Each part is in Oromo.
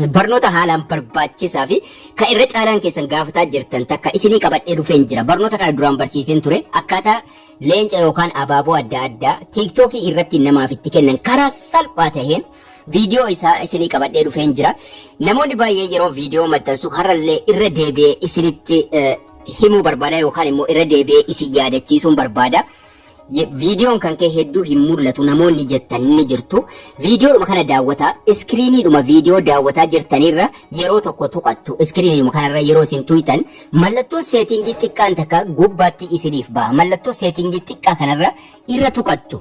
Barnoota haalaan barbaachisaa fi kan irra caalaan keessan gaafataa jirtan takka isinii qabadhee dhufeen jira. Barnoota kana duraan barsiiseen ture akkaataa leenca yookaan abaaboo adda addaa tiiktookii irratti namaaf itti kennan karaa salphaa taheen viidiyoo isaa isinii qabadhee dhufeen jira. Namoonni baay'ee yeroo viidiyoo maxxansu har'allee irra deebi'ee isinitti eh, himuu barbaada yookaan immoo irra deebi'ee isin yaadachiisuun barbaada. Ye- Viidiyoon kan kee hedduu hin mul'atu namoonni jettan ni jirtu. Viidiyoodhuma kana daawwataa iskiriiniidhuma viidiyoo daawwataa jirtanirra yeroo tokko tuqattu. Iskiriiniidhuma kanarra yeroo isin tuyxan mallattoon seetingii xiqqaan takka gubbaatti isiniif baha. Mallattoo seetingii xiqqaa kanarra irra tuqattu.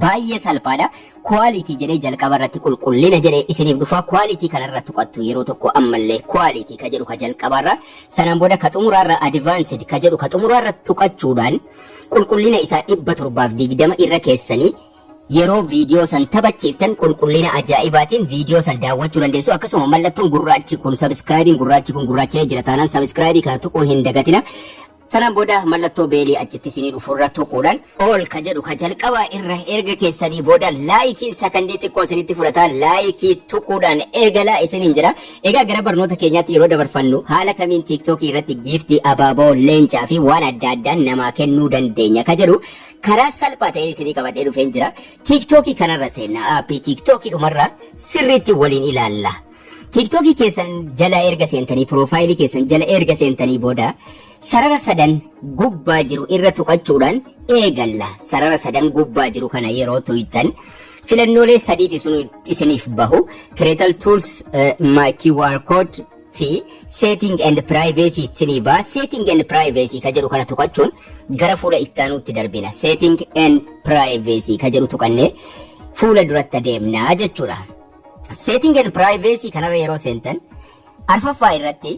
baay'ee salphaadha. Quality jedhee jalqaba irratti qulqullina jedhee isiniif dhufa. Quality kanarra tuqattu yeroo tokko ammallee quality ka jedhu ka jalqabaarra sanaan booda ka xumuraarra advanced ka jedhu ka xumuraarra tuqachuudhaan Qulqullina isaa 720 irra keessanii yeroo viidiyoo san taphachiiftan qulqullina ajaa'ibaatiin viidiyoo san daawwachuu dandeessu akkasuma mallattoon gurraachi kun sabiskiraayibiin gurraachi kun gurraacha'ee jira taanaan sabiskiraayibii kana tuquu hin dagatina sanaan booda mallattoo beelii achitti isinii dhufurra tuquudhaan ol ka jedhu ka jalqabaa irra erga keessanii booda laayikiin sakandii xiqqoo isinitti fudhata laayikii tuquudhaan eegalaa isiniin jedha Egaa gara barnoota keenyaatti yeroo dabarfannu haala kamiin TikTok irratti giiftii, abaaboo, leencaa fi waan adda addaan namaa kennuu dandeenya ka jedhu karaa salphaa ta'een isinii qabadhee dhufeen jira. TikTok kanarra seenna. Aappii TikTok dhumarra sirriitti waliin ilaalla. TikTok keessan jala erga seentanii, piroofaayilii keessan jala erga seentanii booda Sarara sadan gubbaa jiru irra tuqachuudhaan eegalla. Sarara sadan gubbaa jiru kana yeroo tuyxan filannoolee sadiiti sun isiniif bahu. Creatal Tools eh, My QR Code fi Setting and Privacy isinii baha. Setting and Privacy ka jedhu kana tuqachuun gara fuula itti aanuutti darbina. Setting and Privacy ka jedhu tuqannee fuula duratti adeemna jechuudha. Setting and Privacy kanarra yeroo seentan Arfaffaa irratti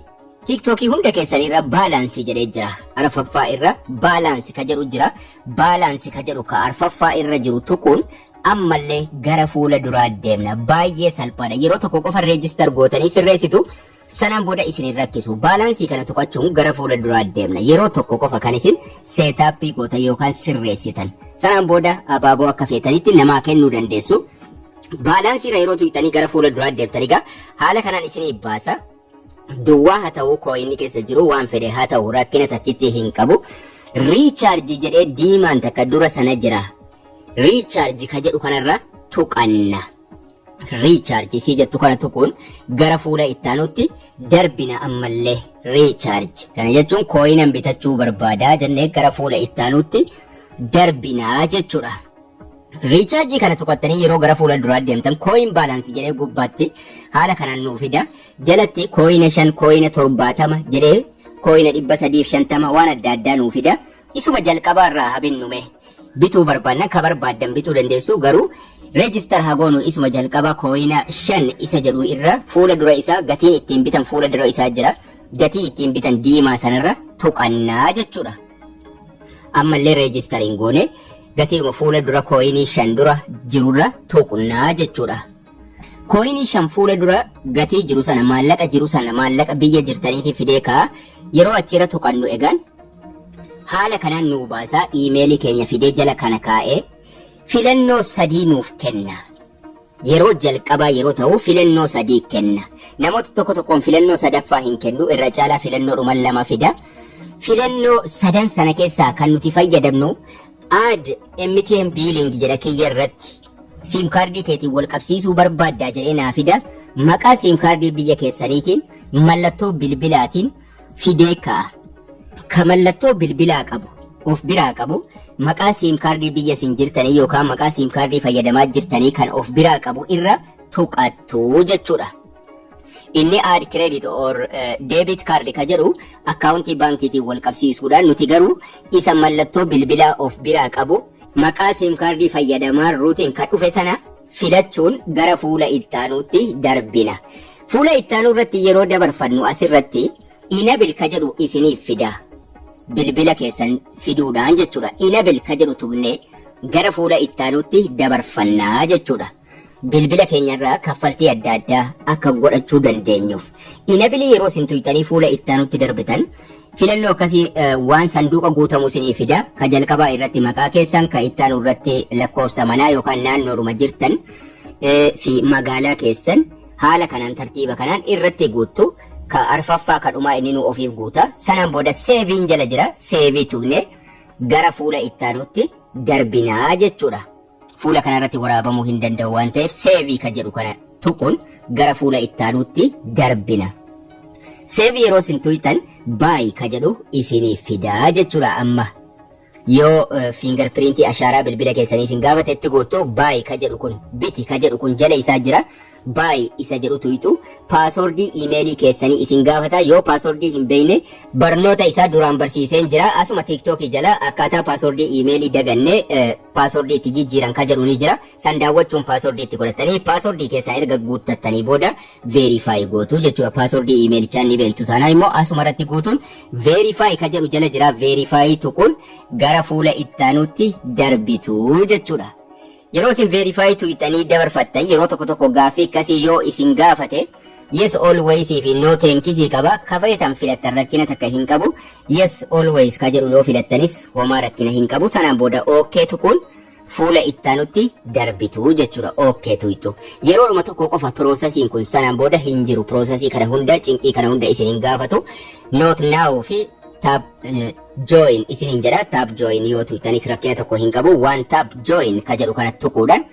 TikTok hunda keessan irra balance jedhee jira. Arfaffaa irra balance ka jedhu jira. Balance ka jedhu ka arfaffaa irra jiru tuquun ammallee gara fuula duraa deemna. Baay'ee salphaadha. Yeroo tokko qofa register gootanii sirreessitu sanaan booda isin hin rakkisu. Balance kana tuqachuun gara fuula duraa deemna. Yeroo tokko qofa kan isin setup gootan yookaan sirreessitan. Sanaan booda abaaboo akka feetanitti namaa kennuu dandeessu. Balance irra yeroo tuqxanii gara fuula duraa deebtan egaa haala kanaan isinii baasa. Duwwaa haa ta'uu kooyinni keessa jiru waan fedhe haa ta'u rakkina takkitti hin qabu. Recharge jedhee diimaan takka dura sana jira. Recharge ka jedhu kanarra tuqanna. Recharge isii jettu kana tuquun gara fuula ittaanutti darbina ammallee. Recharge kana jechuun kooyinan bitachuu barbaadaa jennee gara fuula ittaanutti darbinaa jechuudha. Riichaarjii kana tuqattanii yeroo gara fuula duraa deemtan kooyin baalaansi jedhee gubbaatti haala kanaan nuu fida. Jalatti kooyina shan, kooyina torbaatama jedhee kooyina dhibba sadiif shantama waan adda addaa nuu fida. Isuma jalqabaa irraa haa binnu mee. Bituu barbaadnan ka barbaaddan bituu dandeessu garuu reejistar haa goonu isuma jalqabaa kooyina shan isa jedhu irra fuula dura isaa gatiin ittiin bitan fuula dura isaa jira. Gatii ittiin bitan diimaa sanarra tuqannaa jechuudha. Ammallee reejistar hin goone. Gatiidhuma fuula dura kooyinii 5 dura jirurra tuqna jechuudha. Kooyinii 5 fuula dura gatii jiru sana maallaqa jiru sana maallaqa biyya jirtaniitii fidee kaa yeroo achiirra tuqannu egaan haala kanaan nuu baasaa iimeelii keenya fidee jala kana kaa'ee filannoo sadii nuuf kenna. Yeroo jalqabaa yeroo ta'u filannoo sadii kenna. Namoota tokko tokkoon filannoo sadaffaa hin kennu, irra caalaa filannoodhuma lama fida. Filannoo sadan sana keessaa kan nuti fayyadamnu add MTN billing jedha kiyya irratti. Siim kaardii keetiin wal qabsiisuu barbaaddaa jedhee naa fida. Maqaa siim kaardii biyya keessaniitiin, mallattoo bilbilaatiin, fidee ka'a. Ka mallattoo bilbilaa qabu, of biraa qabu, maqaa siim kaardii biyya isin jirtanii yookaan maqaa siim kaardii fayyadamaa jirtanii kan of biraa qabu irra tuqattu jechuudha. Inni add credit or eh, debit card ka jedhu akkaawuntii baankiitiin wal qabsiisuudha. Nuti garuu isa mallattoo bilbilaa of biraa qabu maqaa siim kaardii fayyadamaa ruutiin ka dhufe sana filachuun gara fuula ittaanuutti darbina. Fuula ittaanuu irratti yeroo dabarfannu asirratti Enable ka jedhu isiniif fida. Bilbila keessan fiduudhaan jechuudha. Enable ka jedhu tuqnee gara fuula ittaanuutti dabarfanna jechuudha. Bilbila keenyarraa kaffaltii adda addaa akka godhachuu dandeenyuuf. Enable yeroo isin tuqxanii fuula ittaanuutti darbitan Filannoo akkasii waan sanduuqa guutamu isinii fida. Ka jalqabaa irratti maqaa keessan, ka itti aanu irratti lakkoofsa manaa yookaan naannoodhuma jirtan fi magaalaa keessan haala kanaan tartiiba kanaan irratti guuttu. Ka arfaffaa ka dhumaa inninuu ofiif guuta. Sanaan booda seeviin jala jira. Seevii tuqnee gara fuula itti aanutti darbinaa jechuudha. Fuula kana irratti waraabamuu hin danda'u waan ta'eef Save ka jedhu kana tuquun gara fuula itti aanuutti darbina. Save yeroo isin tuytan Buy ka jedhu isiniif fida jechuudha amma. Yoo finger print ashaaraa bilbila keessanii isin gaafate itti guuttu Buy ka jedhu kun biti ka jedhu kun jala isaa jira. Buy isa jedhu tuyxu, Paaswordii email keessanii isin gaafata, yoo paaswordii hin beekne barnoota isaa duraan barsiiseen jira, asuma TikTok jala akkaataa paaswordii email daganne paaswordii itti jijjiiran ka jedhu ni jira, san daawwachuun paaswordii itti godhattanii paaswordii keessan erga guuttattanii booda verify gootu jechuudha, paaswordii email'ichaa ni beektu taanaan immoo asuma irratti guutuun verify ka jedhu jala jira, verify tuquun gara fuula itti aanuutti darbitu jechuudha. Yeroo isin verify to ixanii dabarfattan yeroo tokko tokko gaaffii akkasii yoo isin gaafate yes always fi no thanks qaba ka feetan filattan rakkina takka hin qabu yes always ka jedhu yoo filattanis homaa rakkina hin qabu sanaan booda ok tuquun fuula ittaanutti darbitu jechuudha ok tuyxu yeroodhuma tokko qofa piroosasiin kun sanaan booda hin jiru piroosasii kana hunda cinqii kana hunda isin hin gaafatu not now fi tab join isiniin jedha tap join yoo tuqxanis rakkina tokko hin qabu waan tap join ka jedhu kana tuquudhaan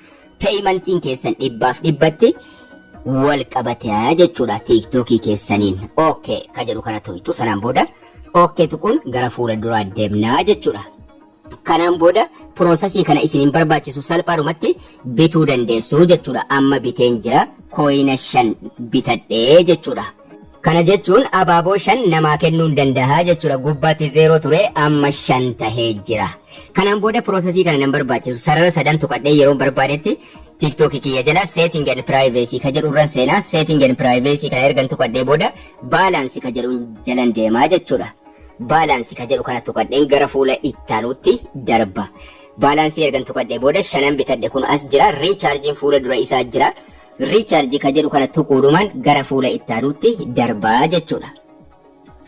peeyimantiin keessan dhibbaaf dhibbatti wal qabatea jechuudha tiiktookii keessaniin ok ka jedhu kana tuqxu sanaan booda ok tuquun gara fuula duraa deemnaa jechuudha kanaan booda piroosasii kana isin hin barbaachisu salphaadhumatti bituu dandeessu jechuudha amma biteen jira kooyina shan bitadhee jechuudha Kana jechuun abaaboo 5 namaa kennuun dandaha jechuudha. Gubbaatti 0 ture amma 5 tahee jira. Kanaan booda piroosesii kana nan barbaachisu. Sarara sadan tuqadhee yeroon barbaadetti TikTok kiyya jala setting and privacy ka jedhu irran seena. Setting and privacy kana ergan tuqadhee booda balance ka jedhuun jalan deema jechuudha. Balance ka jedhu kana tuqadheen gara fuula ittaanuutti darba. Baalaansii ergan tuqadhee booda shanan bitadhe kun as jira. Riichaarjiin fuula dura isaa jira. Recharge ka jedhu kana tuquudhumaan gara fuula itti aanuutti darba jechuudha.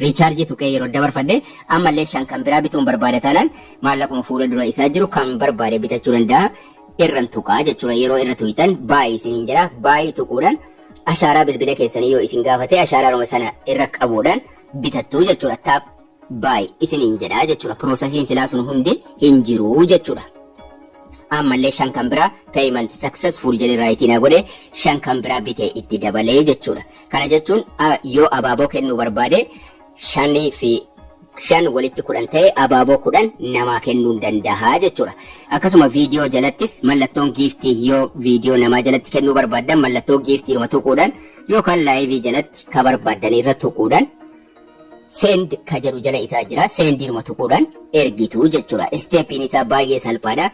Recharge tuqee yeroo dabarfadhe ammallee shan kan biraa bituun barbaada taanaan maallaquma fuula dura isaa jiru kan barbaade bitachuu danda'a. Irran tuqaa jechuudha yeroo irra tuqxan baay'ee isiniin jedha baay'ee tuquudhaan ashaaraa bilbila keessanii yoo isin gaafate ashaaraaruma sana irra qabuudhaan bitattu jechuudha. Taap Buy isiniin jedha jechudha processiin silaa sun hundi hin jiru jechudha. Ammallee shan kan biraa payment successful jedhee raayitii naa godhe shan kan biraa bite itti dabalee jechudha. Kana jechuun yoo abaaboo kennuu barbaade shanii fi shan walitti kudhan ta'e abaaboo kudhan namaa kennuun danda'a jechuudha. Akkasuma viidiyoo jalattis mallattoon giiftii yoo viidiyoo namaa jalatti kennuu barbaaddan mallattoo giiftiidhuma tuquudhaan yookaan laayivii jalatti ka barbaaddan irra tuquudhaan Send ka jedhu jala isaa jira. Sendiinuma tuquudhaan ergitu jechuudha. Isteeppiin isaa baay'ee salphaadha.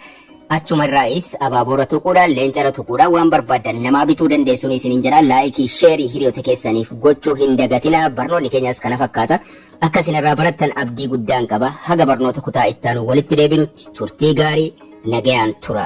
Achuma irraayis abaaboorra tuquudhaan, leencarra tuquudhaan waan barbaaddan namaa bituu dandeessuun isiniin jedha. Laayikii, sheerii hiriyoota keessaniif gochuu hin dagatina. Barnoonni keenyas kana fakkaata. Akka isin irraa barattan abdii guddaan qaba. Haga barnoota kutaa ittaanu walitti deebinutti turtii gaarii nagayaan tura.